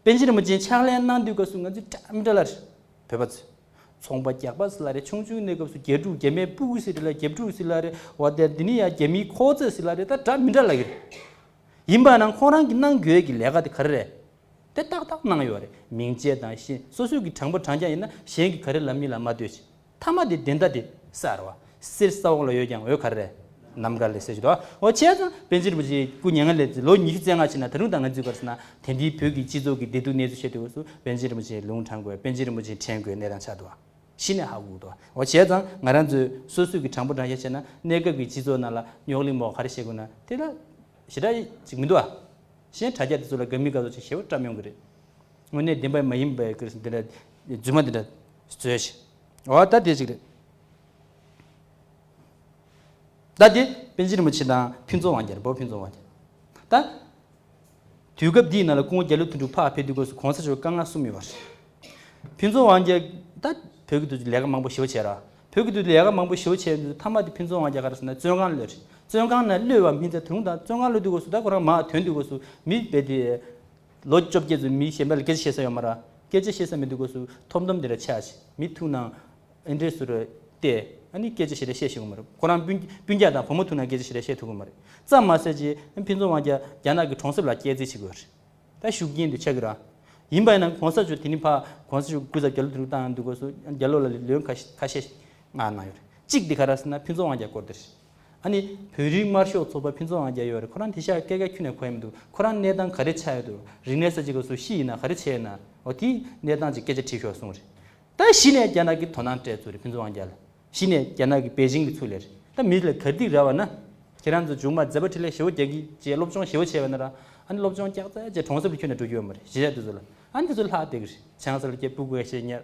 པན་ཆེན་རིན་པོ་ཆེའི་ཕྱག་ལེན་གནང་དུས་སྐབས་སུ་ང་ཚོས་བཀྲ་མི་བཀྲ་ལ་རེ་བོད་པ་ཚོས་ཚོང་པ་རྒྱག་པ་སི་ལ་རེ་ཆུང་ཆུང་གནས་སྐབས་སུ་རྒྱལ་ཕྲུག་རྒྱལ་མའི་སྤུ་གུ་སི་རེ་ལ་རྒྱལ་ཕྲུག་སི་ལ་རེ་བ་དེ་འདི་ནི་ཡང་རྒྱལ་མིའི་ཁོག་རྩོད་སི་ལ་རེ་ད་བཀྲ་མི་བཀྲ་ལ་གི་རེད་ཡིན་པ་ན་ཁོང་རང་གི་གནང་དགོས་ཀྱི་ལས་ཀ་དེ་ག་རེ་རེད་དེ་ཏག་ཏག་གནང་ཡོད་རེད་མིང་བརྗེ་དང་ཤིན་སོ་སོའི་གི་དྲང་པོ་དྲང་རྐྱང་ཡིན་ན་གཞན་གི་ག་རེ་ལ་མི་ལ་མ་ལྟོས་ཤིག། ཐ་མ་དེ་འདི་འདྲ་དེ་སར་བ། སིར་ས་འོག་ལ་ཡོད་ཀྱང་འོད་གར་རེད། ནམ་མཁར་ལས་སད་ཅིག་དོ། འོ་བྱས་ཙང་པན་ཆེན་རིན་པོ་ཆེའི་སྐུ་ཉེ་ལྔ་ལས་ལོ་ཉི་ཤུ་རྩེ་ལྔ་ཕྱིན་ན་ད་རུང་དང་ང་ཚོའི་སྐར་ས་ན་དེ་འདྲའི་བོད་ཀྱི་སྤྱི་ཚོགས་ཀྱི་བདེ་སྡུག་གནས་ཚུལ་བཤད་དུས་འོས་སུ་པན་ཆེན་རིན་པོ་ཆེའི་ལུང་དྲངས་དགོས་པན་ཆེན་རིན་པོ་ཆེ་དྲན་དགོས་གནས་དང་ཆགས་འདུག་ཨ། ཤི་ནས་ཧ་གོ་འདུག་འོ་བྱས་ཙང་ང་རང་ཚོས་སོ་སོས་ཀྱི་དྲང་པོ་དྲང་བཞག་བྱས་ན་གནས་སྐབས་ཀྱི་སྤྱི་ཚོགས་ནང་ལ་རྙོག་གླིང་མོག་ག་རེ་བཤད་དགོས་ན་དེ་ལ་ཞེ་དྲག་ཅིག་མི་འདུག་ཨ། གཞན་དྲ་རྒྱ་དེ་ཚོ་ལ་དགའ་མི་དགའ་སོགས་ཅིག་ཞེ་བོ་བཀྲམ་ཡོང་གི་རེད། དངོས་གནས་བདེན་པ་མ་ཡིན་པའི་སྐོར་འདི་འདྲ་རྫུན་མ་འདི་འདྲ་བཟོས་ཤིག་འོ་ད་དེ་ཅིག་རེད། ད་དེ་པན་ཆེན་རིན་པོ་ཆེ་དང་ཕུན་ཚོགས་དབང་རྒྱལ་བོད་ཕུན་ཚོགས་དབང་རྒྱལ། ད་དུས་སྐབས་འདིའི་ནང་ལ་སྐུ་ངོ་རྒྱ་ལོ་དོན་དྲུག་འཕགས་ཕེབས་དུས་སྐོར་སུ་གོང་ས་མཆོག་བཀའ་མངགས་གསུམ་ཡོད་པ་རེད། ཕུན་ཚོགས་དབང་རྒྱལ་ད་བོད་ཀྱི་དུས་སུ་ལས་ཀ་མང་པོ་ཞོ་བྱས་ར་བོད་ཀྱི་དུས་སུ་ལས་ཀ་མང་པོ་ཞོ་བྱས་དུས་མཐའ་མ་དེ་ཕུན་ཚོགས་དབང་རྒྱལ་ག་རེ་སོང་ད་བཙོན་ཁང་ལ་བློས་རེད་བཙོན་ཁང་ན་བློས་བ་སྨིན་ཚད་ད་རུང་ད་བཙོན་ཁང་ལོས་དུས་སྐོར་སུ་ད་ཁོ་རང་མ་དོན་དུས་སྐོར་སུ་མི་དཔེ་དེ། ལོ་བཅོ་བརྒྱད་དུ་མིའི་ཞལ་འབག་ལ་སྐད་ཆ་བཤད་ས་ཡོད་མ་ར། སྐད་ཆ་བཤད་ས་མི་འདུག་སྒོས་སུ་ཐོབ་འདོམས་དེ་ར་ཆགས་ཤིག་མི་ཐུག་ནའང་ཨེ་འདྲས་ཟུར་ར་བལྟས་ཨ་ནི་སྐད་ཆ་ཞེ་དྲག་བཤད་ཤེས་གི་མ་རེད་ཁོ་རང་སྤུན་སྤུན་རྒྱག་དང་བུ་མོ་ཐུག་ནའང་སྐད་ཆ་ཞེ་དྲག་བཤད་ཐུབ་གི་མ་རེད་ཙམ་མ་ཟད་ཀྱི་ཕིན་ཚོང་དབང་རྒྱ་རྒྱ་ནག་གི་གྲོང་གསེབ་ལ་སྐྱེལ་རྩིས་བྱེད་དགོས་རེད་ད་ཞུགས་རྐྱེན་དེ་ཆགས་གི་ར། ཡིན་པ་ཡིན་ན་གོང་ས་མཆོག་དེ་ནི་ཕ་གོང་ས་མཆོག་སྐུ་ཚབ་རྒྱ་ལོ་དེ་རུ་བཏང་འདུག་སྒོས་སུ་རྒྱ་ལོ་ལ་ལོན་ཁ་ཤས་ཁ་ཤས་གནང་གནང་ཡོད་རེད་གཅིག་དེ་ག་ར་ཟེར་ན་ཕིན་ཚོང་དབང་རྒྱ་སྐོར་དེ་རེད། ཨ་ནི། བོད་རིགས་དམར་ཤོག་ཚོགས་པ་ཕུན་ཚོགས་ཨང་བརྒྱ་ཡོད་རེད་ཁོ་རང་དེ་ཤག་སྐད་ག་ཁྱུ་ནས་གོ་ཡ་མི་འདུག་ཁོ་རང་གནས་སྟངས་ག་རེ་ཆགས་ཡོད་འདུག་རིག་གནས་ས་ཅིག་ག་སུ་ཤི་ཡིན་ན་ག་རེ་བྱས་ཡོད་ན་འོ་དེའི་གནས་སྟངས་ཅིག་སྐད་ཆ་དྲིས་ཤོག་གསུངས་རེད་ད་གཞི་ནས་རྒྱ་ནག་གི་དོ་སྣང་སྤྲད་ཚུལ་རེད་ཕུན་ཚོགས་ཨང་བརྒྱ་ལ་གཞི་ནས་རྒྱ་ནག་གི་པེ་ཅིང་གི་ཚུལ་ལས་རེད་ད་མི་ལ་གར་སྡིག་ར་བ་ན་ཁྱེད་རང་ཚོ་ཇུག་མ་མཛད་པ་ཁྲི་ལས་ཞེ་བོ་རྒྱག་གི་བཅས་སློབ་སྦྱོང་ཞེ་བོ་བྱས་པ་ན་རང་ཨ་ནི་སློབ་སྦྱོང་སྐྱག་རྫ་བཅས་གྲོང་གསེབ་ལ་ཁྱུ་ནས་འགྲོ་རྒྱུ་ཡོད་མ་རེད་གཞི་ཆགས་དེ་ཚོ་ལ་ཨ་ནི་དེ་ཚོ་ལྷག་བསྡད་གི་རེད་བྱང་ས་ལ་སྐྱས་སྤུ་གུ་ག་ཤས་ཉར།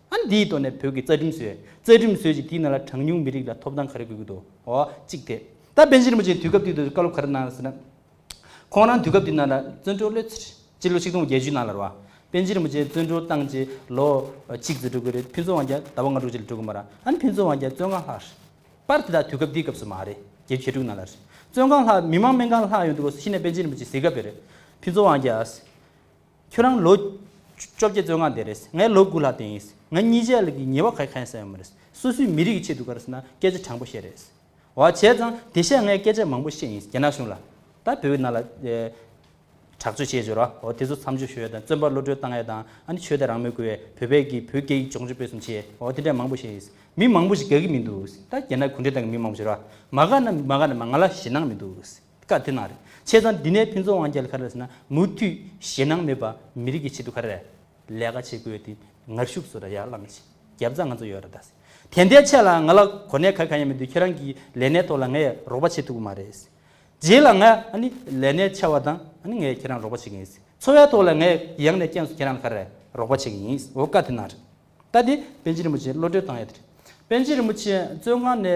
ཨ་འདིའི་ཐོག་ནས་བོད་ཀྱི་རྩ་ཁྲིམས་བཟོས། རྩ་ཁྲིམས་བཟོས་ཅིང་དེའི་ནང་ལ་གྲངས་ཉུང་མི་རིགས་ལ་ཐོབ་ཐང་ག་རེ་དགོས་ཀྱི་འདུག་ཨོ། གཅིག་དེ། ད་བན་ཤིང་རིན་པོ་ཆེའི་དུས་སྐབས་དུས་དེ་ཚོའི་བཀའ་སློབ་ག་རེ་གནང་ཡོད་ཟེར་ན། ཁོང་རང་དུས་སྐབས་དེའི་ནང་ལ་བཙོན་གྲོལ་སློད་ཚེ། སྤྱི་ལོ་ཆིག་སྟོང་བརྒྱད་ཅུའི་ནང་ལ་རོ། བན་ཤིང་རིན་པོ་ཆེ་བཙོན་གྲོལ་བཏང་རྗེས་ལོ། གཅིག་ཙི་འགྲོ་གི་རེད་ཕུན་ཚོགས་དབང་རྒྱལ་ཟླ་བ་ལྔ་དྲུག་རྗེས་ལ་འགྲོ་གི་མ་རང་ཨ་ནི་ཕུན་ཚོགས་དབང་རྒྱལ་བཙོན་ཁང་ལྷག་རེད། པར་དེ་དག་དུས་སྐབས་དེའི་སྐབས་སུ་མ་རེད་བརྒྱད་བཅུ་ཞེ་དྲུག་ནང་ལ་རེད། བཙོན་ཁང་ལྷག་མི་མང་སྨན་ཁང་ལྷག་ཡོང་དུས་ལོ་སུ་ཤི་ནས་བན་ཤིང་རིན་པོ་ཆེ་གཟིགས་ག་བེར་རེད། ཕུན་ཚོགས་དབང་རྒྱལ། ཁྱོད་རང་ལོ། བཅོ་བརྒྱད་བཙོན་ཁང་འདས་རེས་ངའི་ལོ་དགུ་ལྷག་འདས་ཡིན། ང་གཉིས་ཆའི་ལ་གི་ཉེ་བ་ག་གེ་ཁ་ཡང་ས་ཡོད་མ་རེད། སོ་སོའི་མི་རིགས་ཀྱི་ཆེད་དུ་ག་རེ་ཟེར་ན་སྐད་ཆ་དྲང་པོ་བཤད་རེས། བ་བྱས་ཙང་དེ་ཤས་ངས་སྐད་ཆ་མང་པོ་བཤད་ཡིན་རྒྱ་ནག་གཞུང་ལ། ད་བོད་ནང་ལ། དྲག་སྤྱོད་བྱས་བྱོས་ར་བ་དེ་ཚོ་མཚམས་འཇོག་ཞུ་ཡས་དང་བཙོན་པ་བློ་གྲོས་བཏང་ཡས་དང་ཨ་ནི་ཆོས་དད་རང་མོས་དགོས་ཡས་བོད་པས་ཀྱི་བོད་སྐད་ཡིག་སྦྱོང་སྤྱོད་སྤེལ་གསུམ་བྱས་ཡས་བ་དེ་འདྲ་མང་པོ་བཤད་ཡིན། མི་མང་པོ་ཞིག་ག་གི་མི་འདུག་ད་རྒྱ་ནག་གུང་ཁྲན་ཏང་གི་མི་མང་པོ་བྱོས་ར་བ་མ་ག་ན་མ་ག་ན་མ་ང་ལ་ཞེད་སྣང་མི་འདུག། བཀའ་དེ་ནང་རེད། བྱས་ཙང་འདི་ནས་ཕུན་ཚོགས་དབང་རྒྱལ་ཁ་རས་ཟེར་ན་མུ་མཐུད་ཞེད་སྣང་མེད་པ་མི་རིགས་ཀྱི་ཆེད་དུ་ཁ་རས་ལས་ཀ་བྱེད་དགོས་དེ་ངར་ཤུགས་སུ་ར་ཡར་བླངས་ཤིག་རྒྱབ་རྩ་ང་ཚོ་ཡོད་ར་ད་ཟེར་དེ་འདའི་ཆད་ལ་ང་ལ་གོ་གནས་ག་ག་ཡང་མི་འདུག་ཁྱེད་རང་གི་ལས་གནས་ཐོག་ལ་ངས་རོགས་པ་བྱེད་ཐུབ་ཀྱི་མ་རེད་ཟེར། རྗེས་ལ་ང་ཨ་ནི་ལས་གནས་ཆད་བ་དང་ཨ་ནི་ངས་ཁྱེད་རང་རོགས་པ་བྱེད་ཀྱི་ཡིན་ཟེར་འཚོ་བའི་ཐོག་ལ་ངས་ཡང་ནས་ཀྱང་སུ་ཁྱེད་རང་ལ་ཁ་རས་རོགས་པ་བྱེད་ཀྱི་ཡིན་ཟེར་འོ་བཀའ་དེ་ནང་རེད། ད་དེ་པན་ཆེན་རིན་པོ་ཆེ་བློ་གྲོས་བཏང་ཡོད་དེ་རེད། པན་ཆེན་རིན་པོ་ཆེ་བཙོན་ཁང་ནས།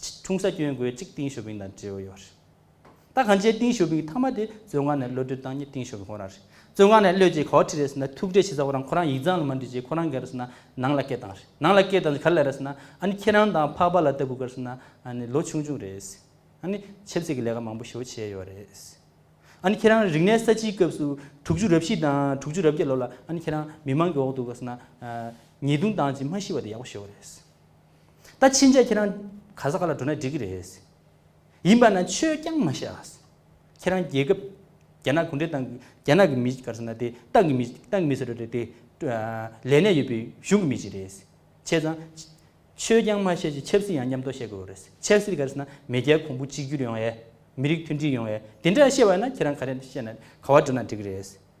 འཁྲུངས་ས་སྐྱོན་འགོའི་གཅིག་ཏིང་ཞོ་ཕིང་དང་འབྲེལ་བ་ཡོད་རེད། ད་གང་ཅའི་ཏིང་ཞོ་ཕིང་ཐ་མ་དེ་བཙོན་ཁང་ནས་གློད་གྲོལ་བཏང་ཉིན་ཏིང་ཞོ་ཕིང་ཁོ་རང་རེད། བཙོན་ཁང་ནས་གློད་རྗེས་ག་བ་ཁྲི་རེད་ཟེར་ན་ཐུག་འཕྲད་བྱེད་ས་ཁོ་རང་ཁོ་རང་ཡིག་ཚང་ལ་མ་འབྲི་རྗེས་ཁོ་རང་ག་རེ་ཟེར་ན་ནང་ལ་སྐད་བཏང་རེད། ནང་ལ་སྐད་བཏང་རྗེས་ག་ལ་རེད་ཟེར་ན་ཨ་ནི་ཁྱེད་རང་དང་འཕགས་པ་ལ་ལྟ་བུ་ག་རེ་ཟེར་ན་ཨ་ནི་ལོ་ཆུང་ཆུང་རེད། ཨ་ནི་ཆབ་སྲིད་ཀྱི་ལས་ཀ་མང་པོ་ཞོ་བྱས་ཡོད་རེད། ཨ་ནི་ཁྱེད་རང་རིག་གནས་ས་ཆིའི་སྐབས་སུ་དྲུག་ཅུ་རབ་བཞི་དང་དྲུག་ཅུ་རབ་བརྒྱད་ལོ་ལ་ཨ་ནི་ཁྱེད་རང་མི་མང་གི་འོག་ཏུ་ག་རེ་ཟེར་ན་ཉེས་རྡུང་བཏང་རྗེས་མ་ཤི་བ་དེ་ཡག་པོ་ཞོ་རེད། ད་ཕྱིན་ཆད་ཁྱེད་རང་ག་ས་ག་ལ་འགྲོ་ན་འགྲིག་གི་རེད། ཡིན་པ་ན་ཆོས་རྐྱང་མ་བཤད། ཁྱེད་རང་རྒྱལ་ཁབ་རྒྱ་ནག་གུང་ཁྲན་ཏང་གི་རྒྱ་ནག་གི་མི་ག་ས་ན་དེ་ཏང་གི་མི་ཏང་གི་མི་ཟེར་བ་རེད་དེ། ལས་གནས་ཡོད་པའི་གཞུང་གི་མི་ཞིག་རེད། བྱས་ཙང། ཆོས་རྐྱང་མ་བཤད་ཅིག་ཆབ་སྲིད་ཡང་མཉམ་དུ་བཤད་དགོས་བ་རེད། ཆབ་སྲིད་ག་ས་ན་མེས་རྒྱལ་གོང་བུ་གཅིག་གྱུར་ཡོང་བའི། མི་རིགས་མཐུན་སྒྲིལ་ཡོང་བའི་དེ་འདྲ་བཤད་བ་ན་ཁྱེད་རང་ག་རེ་བཤད་ན་ག་བ་འགྲོ་ན་འགྲིག་གི་རེད།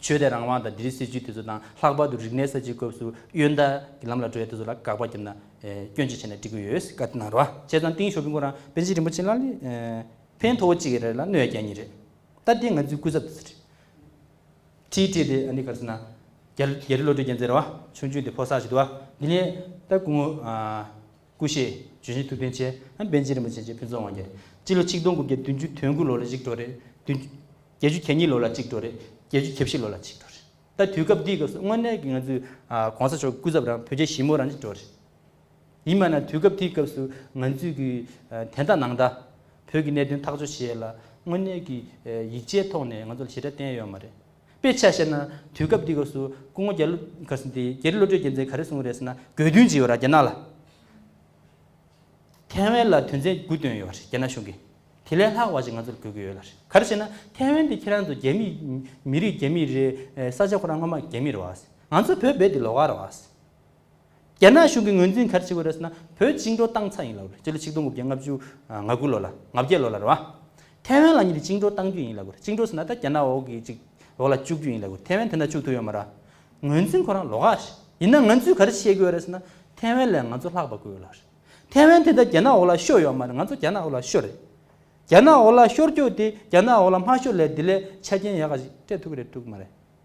ཆོས་དད་རང་དབང་དང་འདི་རིགས་སྲིད་བྱུས་དེ་ཚོ་དང་ལྷག་པར་དུ་རིག་གནས་གསར་བརྗེའི་སྐབས་སུ་གཡོན་བརྡལ་གྱི་ལམ་ལ་འགྲོ་བའི་དེ་ཚོ་ལ་དགག་པ་བརྒྱབ་ན་སྐྱོན་ཅི་ཆེ་ན་འགྲིག་གི་ཡོད་བཀའ་ལྟི་ན་རོ་བྱས་ཙང་ཏིང་ཞོ་ཕིང་པོ་རང་པན་ཆེན་རིན་པོ་ཆེ་ལ་ལས་ཕན་མཐོ་བོ་གཅིག་ཡེ་རེད་ལ་གནོད་རྒྱ་གཉིས་རེད་ད་དེ་ང་ཚོའི་སྐུ་ཚབ་དེ་ཚོ་རེད་ཁྲིད་ཁྲིད་དེ་འདི་ག་རེ་ཟེར་ན་རྒྱ་རི་བློ་གྲོས་རྒྱལ་མཚན་རེད་བ་ཆུང་ཆུང་དེ་ཕོ་སར་ཞིག་འདུག་བ་འདི་ནས་ད་སྐུ་ངོ། སྐུ་གཤེགས། བྱོན་ཞིང་ཐུགས་རྟེན་ཆེ། པན་ཆེན་རིན་པོ་ཆེ་བཅས་ཕུན་ཚོགས་དབང་རྒྱལ། སྤྱི་ལོ་ཆིག་སྟོང་དགུ་བརྒྱ་བདུན་ཅུ་དོན་དགུ་ལོ་ལ་གཅིག་གྲོལ་རེད། བདུན། བརྒྱད་ཅུ་གྱ་གཉིས་ལོ་ལ་གཅིག་གྲོལ་རེད། བརྒྱད་ཅུ་གྱ་བཞི་ལོ་ལ་གཅིག་གྲོལ་རེད། ད་དུས་སྐབས་འདིའི་སྐབས་སུ་དངོས་གནས་ཀྱི་ང་ཚོའི ྋགོང་ས་མཆོག་སྐུ་ཚབ་རང་བོད་རྒྱལ་ཞི་མོ་རང་གཅིག་གྲོལ་རེད། ཡིན་མ་ན་དུས་སྐབས་དེའི་སྐབས་སུ་ང་ཚོས་ཀྱི་དན་རྟགས་ནང་ཟླ། བོད་ཀྱི་གནད་དོན་ཐག་གཅོད་བྱེད་ལ་དངོས་གནས་ཀྱི་ཡིག་ཆའི་ཐོག་ནས་ང་ཚོ་ལ་ཞེ་དྲག་བསྟན་ཡོད་མ་རེད། དཔེ་ཆ་བཤད་ན་དུས་སྐབས་འདི་ག་སུ་སྐུ་ངོ་རྒྱ་རི་བློ་གྲོས་རྒྱལ་མཚན་ག་རེ་གསུངས་རེད་ཟེར་ན་དགོས་འདུན་ཅི་ཡོད་ར་རྒྱ་ནག་ལ་ཐེ་ཝན་ལ་དོན་ཚན་དགུ་བཏོན་ཡོད་རེད་རྒྱ་ནག་གཞུང་གིས་དེ་ལས་ལྷག་བ་ཞིག་ང་ཚོར་དགོས་ཀྱི་ཡོད་རེད་ག་རེ་བྱས་ན་ཐེ་ཝན་དེ་ཁྱེད་རང་ཚོ་རྒྱ་མི་མི་རིགས་རྒྱ་མི་རེད་ས་ཆ་ཁོ་རང་སྔོན་མ་རྒྱ་མི་རེད་ང་ཚོ་བོད་རྦད་དེ་ལོག་ཀ་རེད་རྒྱ་ནག་གཞུང་གི་ངོས་འཛིན་གལ་ཆེ་བོ་རེད་ཟེར་ན་བོད་བཅིངས་འགྲོལ་བཏང་ཚར་ཡིན་ལ་གོ་རེད་སྤྱི་ལོ་ཆིག་སྟོང་དགུ་བརྒྱ་ལྔ་བཅུ་ང་དགུ་ལོ་ལ་ང་བརྒྱད་ལོ་ལ་རེད་བ། ཐའེ་ཝན་ལ་ཉིད་བཅིངས་འགྲོལ་བཏང་རྒྱུ་ཡིན་ལ་གོ་རེད་བཅིངས་འགྲོལ་ཟེར་ན་ད་རྒྱ་ནག་འོག་གི་ཅིག་འོག་ལ་བཅུག་རྒྱུ་ཡིན་ལ་གོ་རེད་ཐའེ་ཝན་དེ་འདྲ་བཅུག་ཐུབ་ཡོད་མ་རེད། ངོས་འཛིན་ཁོ་རང་ལོག་ཨ། ཡིན་ན་ང་ཚོས་ག་རེ་བྱེད་དགོས་རེད་ཟེར་ན་ཐའེ་ཝན་ལས་ང་ཚོ་ལྷག་པ་དགོས་ཡོད་ལ་རེད། ཐའེ་ཝན་དེ་ད་རྒྱ་ནག་འོག་ལ་ཤོར་ཡོད་མ་རེད་ང་ཚོ་རྒྱ་ནག་འོག་ལ་ཤོར་རེད། རྒྱ་ནག་འོག་ལ་ཤོར་རྒྱུ་དེ་རྒྱ་ནག་འོག་ལ་མ་ཤོར་ལས་དེ་ལས་ཆ་རྐྱེན་ཡག་ག་ཞིག་སྤྲད་ཐུབ་ཀྱི་རེད་ཐུག་གི་མ་རེད།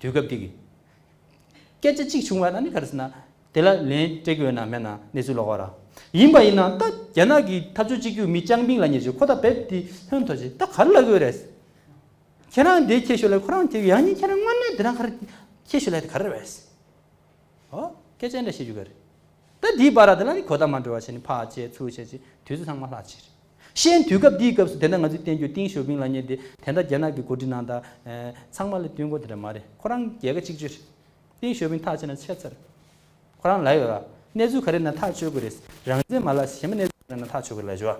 དུས་སྐབས་དེ་གི་སྐད་ཆ་གཅིག་བྱུང་བ་ན་ནི་ག་རེ་ཟེར་ན། དེ་ལ་ལན་སྤྲད་རྒྱུ་ཡོད་ན་མེད་ན་གནས་ཚུལ་ལོག་བ་ར། ཡིན་པ་ཡིན་ན་ད་རྒྱ་ནག་གི་འཐབ་རྩོད་གཅིག་གྱུར་མི་ཅང་པིང་ལ་ཉེ་ཆོད་ཁོ་ད་བེད་དེ་ཧོན་ཐོ་ཆེད་ད་ག་རེ་ལབ་ཡོད་རེད། ཁྱེད་རང་དེ་ཁྱེད་ཤོད་ལ་ཁོ་རང་དེ་ཡང་ཉིན་ཁྱེད་རང་དངོས་གནས་དེ་རང་ག་རེ་ཁྱེད་ཤོད་ལ་དེ་ག་རེ་རེད། ཨོ་སྐད་ཆ་འདྲ་བཤད་རྒྱུ་ག་རེ། ད་དེའི་བར་ར་དེ་ལ་ནི་གོ་བརྡ་མ་འགྲོ་བ་བྱས་ནི་ཕག་བཅད་ཚུར་བཅད་ཅེས་དུས་ཚོད་ཚང་མ་ལྷག་ཕྱིར། ཤེས་དུས་སྐབས་འདིའི་སྐབས་སུ་དེ་འདྲ་ང་ཚོས་བསྟན་རྒྱུ་ཏིང་ཞོ་ཕིང་ལགས་ཉིད་དེ་དེ་འདྲ་རྒྱ་ནག་གི་གོ་སྒྲིག་ནང་དང། ཚང་མ་ལ་བསྟུན་གོ་དེ་འདྲ་མ་རེད་ཁོ་རང་རྒྱལ་ཁ་གཅིག་གཅོད་རེད། ཏིང་ཞོ་ཕིང་ཐག་ཆད་ན་ཆད་ཚར། ཁོ་རང་ལ་ཡོད་ར། གནས་ཚུལ་ག་རེ་ན་ཐག་ཆོད་དགོས་རེད། རང་བཙན་མ་ལགས་གཞན་པ་གནས་ཚུལ་ག་རེ་ན་ཐག་ཆོད་དགོས་རེད་ལ་ཞུ་བ།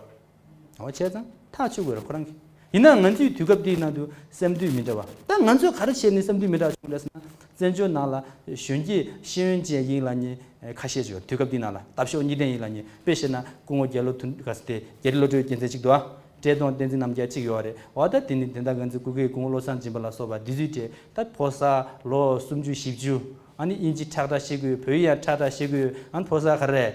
འོ་ཆད་ཙང་ཐག་ཆོད་དགོས་ར་ཁོ་རང་གིས། ཡིན་ནའང་ང་ཚོས་དུས་སྐབས་དེའི་ནང་དུ་སེམས་དུས་མི་འདྲ་བ། ད་ང་ཚོས་ག་རེ་བྱས་ནས་སེམས་དུས་མི་འདྲ་བ་བྱུང་རེད་ཟེར་ན། བཙན་བྱོལ་ནང་ལ་གཞོན་སྐྱེས་ཤེས་ཡོན་ཅན་ཡིག་ལ་གཉིས་ཁ་ཤས་བྱོས་དུས་སྐབས་དེའི་ནང་ལ་དྭབས་ཤོག་གཉིས་ལྡན་ཡིག་ལ་གཉིས་དཔེ་བྱས་ན་སྐུ་ངོ་རྒྱལ་ལོ་དུ་ག་ཟེར་དེ་རྒྱལ་རི་བློ་གྲོས་རྒྱལ་མཚན་གཅིག་དུ་ཨ། བཀྲས་མཐོང་བསྟན་འཛིན་རྣམ་རྒྱལ་གཅིག་ཡོད་རེད་བ་ད་དེ་ནི་དེ་འདྲ་ང་ཚོའི་སྐུ་སྒེར་སྐུ་ངོ་བློ་བཟང་སྦྱིན་པ་ལ་སོགས་པ་འདི་ཚོའི་གྲས་ད་ཕོ་གསར་ལོ་སུམ་ཅུ་བཞི་བཅུ་ཨ་ནི་དབྱིན་ཇི་ཁྲག་ཁྲག་ཤེས་དགོས་བོད་ཡིག་ཡང་ཁྲག་ཁྲག་ཤེས་དགོས་ཨ་ནི་ཕོ་གསར་ག་རེ་རེད།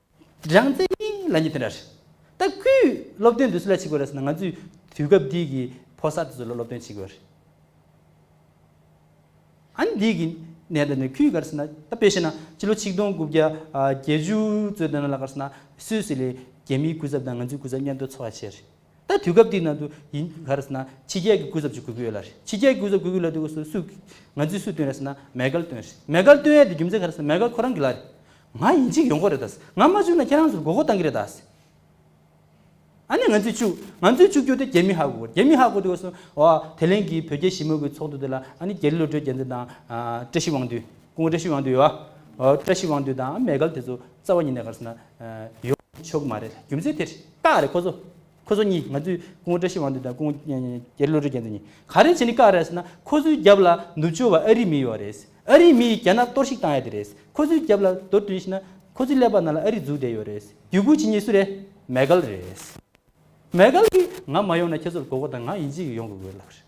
རང་བཙན་གཉིས་ལ་གཉིས་དེ་འདྲ་རེད། ད་སྐུའི་སློབ་སྟོན་དུས་སུ་ལ་བྱེད་དགོས་རེད་ཟེར་ན་ང་ཚོས་དུས་སྐབས་འདི་གི་ཕོ་གསར་དེ་ཚོ་ལ་སློབ་སྟོན་བྱེད་དགོས་རེད། ཨཱ་འདི་གི་གནད་དོན་ནི་ཁུལ་ག་རེ་ཟེར་ན་ད་དཔེ་བཤད་ན་སྤྱི་ལོ་ཆིག་སྟོང་དགུ་བརྒྱ་བརྒྱད་ཅུ་ཚོད་དེ་ནང་ལ་ག་རེ་ཟེར་ན་སུད་སི་ལས་རྒྱ་མིའི་སྐུ་ཚབ་དང་ང་ཚོའི་སྐུ་ཚབ་མཉམ་དུ་འཚོགས་ཡ་བྱས་རེད། ད་དུས་སྐབས་དེའི་ནང་དུ་ཡིན་ག་རེ་ཟེར་ན་ཕྱི་རྒྱལ་གྱི་གུས་ཟབ་ཅིག་གུས་ཀྱི་ཡོད་ལ་རེད། ཕྱི་རྒྱལ་གྱི་གུས་ཟབ་གུས་ཀྱི་ལ་དུས་སུ་སུས། ང་ཚོས་སུས་བཏོན་རེད་ཟེར་ན་མེ་དཀར་བཏོན་རེད། མེ་དཀར་བཏོན་ཡས་དེ་རྒྱུ་མཚན་ག་རེ་ཟེར་ན་མེ་དཀར་ཁོ་རང་གི་ལ་རེད། ང་ཡིན་གཅིག་ཡོང་གོ་རེད་ཟེར། ང་མ་བཅུག་ན་ཁྱེད་རང་ཚོར་མགོ་སྐོར་གཏང་གི་རེད་ཟེར། ཨ་ནི་ང་ཚོས་བཅུག། ང་ཚོས་བཅུག་རྒྱུ་དེ་རྒྱ་མི་ཧ་གོ། རྒྱ་མི་ཧ་གོ་དུས་སུ། འོ། དེ་ལན་གྱི་བོད་རྒྱ་ཞི་མོལ་གྱི་ཚོགས་འདུ་དེ་ལ་ཨ་ནི་རྒྱ་རི་བློ་གྲོས་རྒྱལ་མཚན་དང། བཀྲ་ཤིས་དབང་འདུས། སྐུ་ངོ་བཀྲ་ཤིས་དབང་འདུས་ཡོད་ཨ། འོ་བཀྲ་ཤིས་དབང་འདུས་དང་མེ་དཀར་དེ་ཚོ་རྩ་བ་ཉིད་ནས་ག་རེ་ཟེར་ན། ཡོང་ཆོག་གི་མ་རེད། རྒྱུ་མཚན་དེ་རེད། ཀག་རེད་ཁོ་ཚོ། ཁོ་ཚོ་གཉིས་ང་ཚོའི་སྐུ་ངོ་བཀྲ་ཤིས་དབང་འདུས་དང་སྐུ་ངོ་རྒྱལ་བློ་གྲོས་རྒྱལ་མཚན་གཉིས་ག་རེ་བྱེད་ནི་ཀག་རེད་ཟེར་ན་ཁོ་ཚོའི་རྒྱབ་ལ་ནུབ་ཕྱོགས་བ་ཨ་རི་མི་ཡོད་བ་རེད། ཨ་རི་མི་ཡིས་རྒྱ་ནག་གཏོར་བཤིག་བཏང་ཡ་དེ་རེད། ཁོ་ཚོའི་རྒྱབ་ལ་རྡོ་བཏོན་ཤེས་ན། ཁོ་ཚོའི་ཀླད་པ་ནང་ལ་ཨ་རི་འཛུགས་བསྡད་ཡོད་རེད། རྒྱུད་སྐུལ་བྱེད་ངེས་སུ་རེད། མེ་གྷལ་རེད། མེ་གྷལ་གིས་ང་མ་ཡོང་ན་ཁྱེད་ཚོར་མགོ་སྐོར་དང་ང་ཡིན་གཅིག་ཡོང་དགོས་དགོས་ལབ་རེད།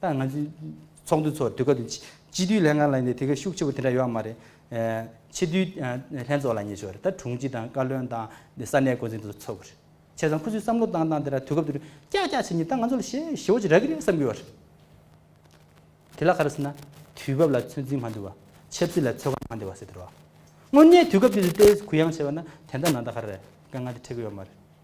ད་ང་ཚོའི་ཚོགས་འདུ་ཚོ་དུས་སྐབས་དེ་སྤྱི་འཐུས་ལྷན་ཁང་ལ་ཡིན་དུས་དེ་ག་ཤུགས་ཆེ་པོ་དེ་འདྲ་ཡོད་ཨ་མ་རེད། ཕྱི་འཐུས་ལྷན་ཚོགས་ལ་ཉེ་ཆོག་རེད་ད་དྲུང་ཆེ་དང་བཀའ་བློན་དང་ས་གནས་འགོ་འཛིན་དེ་ཚོ་ཚོགས་གི་རེད། བྱས་ཙང་ཁོ་ཚོས་བསམ་བློ་བཏང་བཏང་དེ་འདྲ་དུས་སྐབས་དེ་རུ་ཀྱག་ཀྱག་བྱེད་ཉིན་ད་ང་ཚོ་ལ་ཞེ་ཞེ་བོ་ཅིག་རག་གི་རེད་བསམ་གི་ཡོད་རེད། དེ་ལ་ག་རེ་ཟེར་ན་དུས་བབ་ལ་ཚོད་འཛིན་མ་འདུལ་བ། ཆབ་སྲིད་ལ་ཚོད་བགམ་མ་འདེབས་བ་ཟེར་དེ་རུ་ཨ། དངོས་གནས་དུས་སྐབས་དེ་དུས་ལྟའི་གུ་ཡངས་བྱས་པ་ན་དེ་འདྲ་ནང་ད་ག་རེ་རེད་དཀའ་ངལ་དེ་འཕྲད་གི་ཡོད་མ་རེད།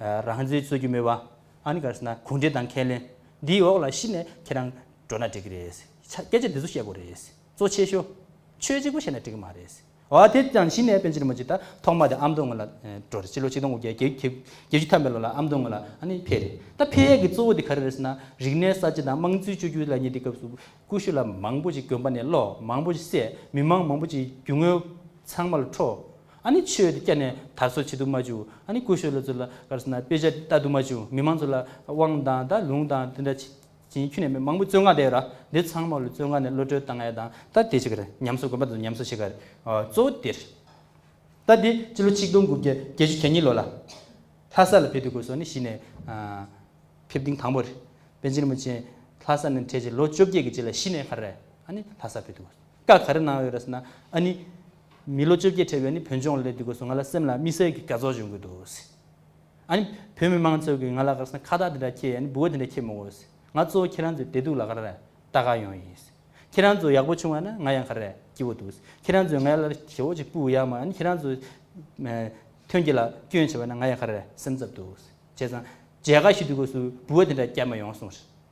རང་བཟོའི་རྩོད་རྒྱུ་སྨོས་པ། ཨཱ་ནི་ག་རེ་ཟེར་ན་གུང་བསྒྲིགས་དང་ཁས་ལེན། འདིའི་འོག་ལ་གཞི་ནས་ཁྱེད་རང་འགྲོ་ན་འགྲིག་གི་རེད། སྐད་ཆ་འདི་ཚོ་བཤད་དགོས་རེད། གཙོ་ཆེ་ཤོས། ཆོས་གཅིག་པོ་བཤད་ན་འགྲིག་གི་མ་རེད། འོ་དེ་ལྟ་ན་གཞི་ནས་པན་ཆེན་རིན་པོ་ཆེ་ད་ཐོག་མ་དེ་ཨ་མདོ་སྔོན་ལ་འགྲོ་རེད་སྤྱི་ལོ་ཆིག་སྟོང་དགུ་བརྒྱ་བརྒྱད་བརྒྱད་ཅུ་ཐམ་པའི་ལོ་ལ་ཨ་མདོ་སྔོན་ལ་ཨ་ནི་ཕེབས་རེད། ད་ཕེབས་ཡས་ཀྱི་གཙོ་བོ་དེ་ག་རེ་རེད་ཟེར་ན་རིག་གནས་གསར་བརྗེ་དང་དམངས་གཙོའི་བཅོས་བསྒྱུར་ལ་ཉེ་དེ་སྐབས་སུ་ཀུ་ཤུ་ལ་མང་པོ་ཅིག་དགོན་པ་ནས་སློག་མང་པོ་ཅིག་བསད་མི་མང་མང་པོ་ཅིག་རྒྱུ་དངོས་ཚང་མ་ལ་འཕྲོག་ཨ་ནི་ཆོས་དེ་སྐྱ་ནས་དར་སོ་བྱེད་དུ་མ་བཅུག་ཨ་ནི་ཀུ་ཤོ་ལོ་ཚོ་ལ་ཀར་སོ་ན་དཔེ་ཆ་ལྟ་དུ་མ་བཅུག་མི་མང་ཚོ་ལ་དབང་དང་ད་ལུང་དང་དེ་འདྲ་བྱིན་ཁྱུ་ནས་མི་མང་པོ་བཙོན་ཁང་དེ་ར་འདི་ཚང་མ་ལོ་བཙོན་ཁང་ནས་ལོ་སྤྲོད་བཏང་ཡ་དང་ད་དེ་བྱེད་ཀར་ཉམས་གསོ་དགོན་པ་དང་ཉམས་གསོ་བྱེད་ཀར་གཙོ་བོ་དེར་ད་དེ་སྤྱི་ལོ་ཆིག་སྟོང་དགུ་བརྒྱ་བརྒྱད་ཅུ་གྱ་གཉིས་ལོ་ལ་ལྷ་ས་ལ་ཕེབས་དུས་ཀུ་ཤོ་ནས་གཞི་ནས་ཕེབས་ཐེངས་དང་པོ་རེད་པན་ཆེན་རིན་པོ་ཆེ་ལྷ་ས་ནས་འཕྲད་རྗེས་ལོ་བཅོ་བརྒྱད་ཀྱི་རྗེས་ལ་གཞི་ནས་ཧ་རེ་ཨ་ནི་ལྷ་ས་ཕེབས་དུས་ཀུ་ཤོ་བཀའ་ག་རེ་གནང་ཡོད་རེད་ཟེར་ན་ཨ་ནི། མི་ལོ་བཅོ་བརྒྱད་འཕྲད་པའི་ནི་བོད་ལྗོངས་ལས་དུས་གོ་སོང་ང་ལ་སེམས་ལ་དམིགས་བསལ་གྱི་དགའ་ཚོར་བྱུང་གི་འདུག་ཟེར། ཨ་ནི། བོད་མི་མང་ཚོས་ཀྱིས་ང་ལ་དགའ་ས་ནི་ཁ་བཏགས་འདི་འདྲ་ཁྱེད་ཨ་ནི་འབུལ་བ་འདི་འདྲ་ཁྱེད་མི་འོས་ཟེར། ང་གཙོ་བོ་ཁྱེད་རང་ཚོའི་བདེ་སྡུག་ལ་ག་རེ་རེད་ད་ག་ཡོང་ཡིན་ཟེར། ཁྱེད་རང་ཚོ་ཡག་པོ་བྱུང་བ་ན་ང་ཡང་ག་རེ་རེད་སྐྱིད་པོ་འདུག་ཟེར། ཁྱེད་རང་ཚོས་ངའི་ལ་རེ་ཞོ་ཅིག་སྤུ་ཡག་མ་ཨ་ནི་ཁྱེད་རང་ཚོས། ཐོན་སྐྱེད་ལ་སྐྱོན་བྱས་པ་ན་ང་ཡང་ག་རེ་རེད་སེམས་འཚབ་འདུག་ཟེར། བྱས་ཙང། མཇལ་ཁ་ཞུས་དུས་གོ་སོའི་འབུལ་བ་འདི་འདྲ་བསྐྱལ་མ་ཡོང་གསུངས་ཟེར།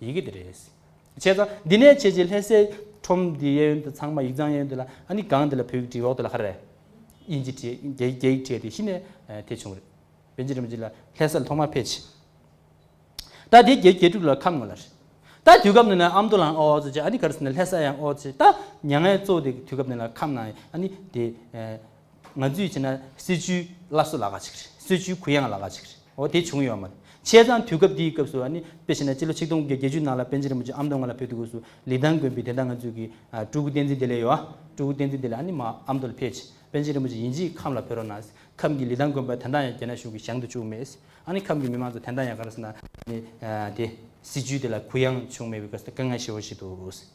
ཡི་གེ་དེ་རེད། བྱས་ཙང་འདི་ནས་བྱས་རྗེས་ལྷད་སའི་ཁྲོམ་འདི་གཡས་གཡོན་དུ་ཚང་མ་ཡིག་ཚང་གཡས་གཡོན་དུ་ལ་ཨ་ནི་གང་དེ་ལ་བོད་ཡིག་བྲིས་འོག་ཏུ་ལ་ཧ་རེ། དབྱིན་ཇི་བྲིས་རྒྱ་ཡིག་རྒྱ་ཡིག་བྲིས་ཏེ་གཞི་ནས་དེ་བྱུང་རེད། བོན་ཇི་རིན་པོ་ཆེ་ལ་ལྷད་ས་ལ་ཐོག་མར་ཕེབས་ཆེད། ད་དེ་རྒྱའི་རྒྱལ་ཁྲིམས་ལ་ཁ་ངོ་ལ་རེད། ད་དུས་སྐབས་འདི་ན་ཨ་མདོ་ལའང་ཨོ་ཙི་བྱས་ཨ་ནི་ག་རེ་ཟེར་ན་ལྷད་ས་ཡང་ཨོ་ཙི་བྱས་ད་མྱ་ངན་གཙོ་བོ་དེ་དུས་སྐབས་འདི་ན་ཁམས་ནང་ཨ་ནི་དེ། ང་ཚོས་བྱས་ན་སྲིད་བྱུས་སླར་གསོ་ལགས་ཀ་ཅིག་རེད། སྲིད་བྱུས་གུ་ཡངས་ལགས་ཀ་ཅིག་རེད། འོ་དེ་བྱུང་ཡོད་མ་རེད། བྱས་ཙང་དུས་སྐབས་འདིའི་སྐབས་སུ་ནི་དཔེ་བྱས་ན་སྤྱི་ལོ་ཆིག་སྟོང་བརྒྱད་བརྒྱད་ཅུའི་ནང་ལ་པན་ཆེན་རིན་པོ་ཆེ་ཨམ་མདོ་སྔ་ལ་ཕེབས་འདུག་སྐབས་སུ་ལི་ཐང་དགོན་པའི་དེ་ལྟ་ང་ཚོས་ཀྱི་སྤྲུལ་སྐུ་བསྟན་འཛིན་དེ་ལས་ཡོད་ཨ། སྤྲུལ་སྐུ་བསྟན་འཛིན་དེ་ལས་ཨ་ནི་མ་ཨམ་མདོ་ལ་ཕེབས་རྗེས་པན་ཆེན་རིན་པོ་ཆེ་ཡིན་རྗེས་ཁམས་ལ་ཕེབས་རོགས་གནང། ཁམས་ཀྱི་ལི་ཐང་དགོན་པ་དེ་འདང་ཡང་རྒྱ་ནག་གཞུང་གིས་བཞེངས་དུ་བཅུག་མེད། ཨ་ནི་ཁམས་ཀྱི་མི་མང་ཚོ་དེ་འདང་ཡང་ག་རེ་ཟེར་ན་ནི་དེ། སྲིད་བྱུས་དེ་ལ་གུ་ཡངས་བྱུང་མེད་པའི་སྐབས་སུ་དཀའ་ངལ་ཞི་བོ་ཞིག་འདུག།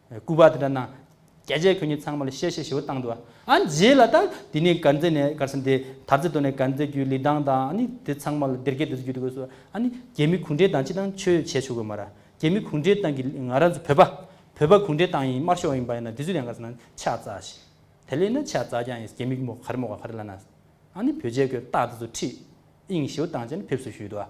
སྐུར་པ་དེ་འདྲ་གནང། རྒྱལ་རྗེས་ཁྱོད་ཉིད་ཚང་མ་ལ་གཤེ་གཤེ་ཞེ་བོ་བཏང་འདུག་ཨ། རྗེས་ལ་ད། དེ་ནས་གར་མཛད་ནས་གར་ས་འདི། དར་རྩེ་དོ་ནས་གར་མཛད་རྒྱུའི་ལི་ཐང་དང་ཨ་ནི་དེ་ཚང་མ་ལ་སྡེར་སྐད་འདི་ཚོ་རྒྱུད་དགོས་སོ། ཨ་ནི། རྒྱལ་མི་གུང་ཁྲན་ཏང་སྤྱི་དང་ཆོས་བྱེད་ཆོག་གི་མ་ར། རྒྱལ་མི་གུང་ཁྲན་ཏང་གིས་ང་རང་ཚོ་བོད་པ། བོད་པ་གུང་ཁྲན་ཏང་ཡིན་དམར་ཤོག་ཡིན་པ་ཡིན་ན་དེ་ཚོས་ཡང་གར་ས་ན་ཕྱག་བཙལ་ཞིག། དེ་ལས་ན་ཕྱག་བཙལ་ཀྱང་ཡིན་རྒྱལ་མི་རྒན་མོ་གར་མོ་ག་གར་ལ་ན། ཨ་ནི་བོད་རྗེས་ཁོས་རྟགས་དེ་ཚོ་ཁྲིད། ཨིང་ཞེ་བོ་བཏང་རྗེས་ནས་ཕེབས་བསུ་ཞུས་འདུག་ཨ།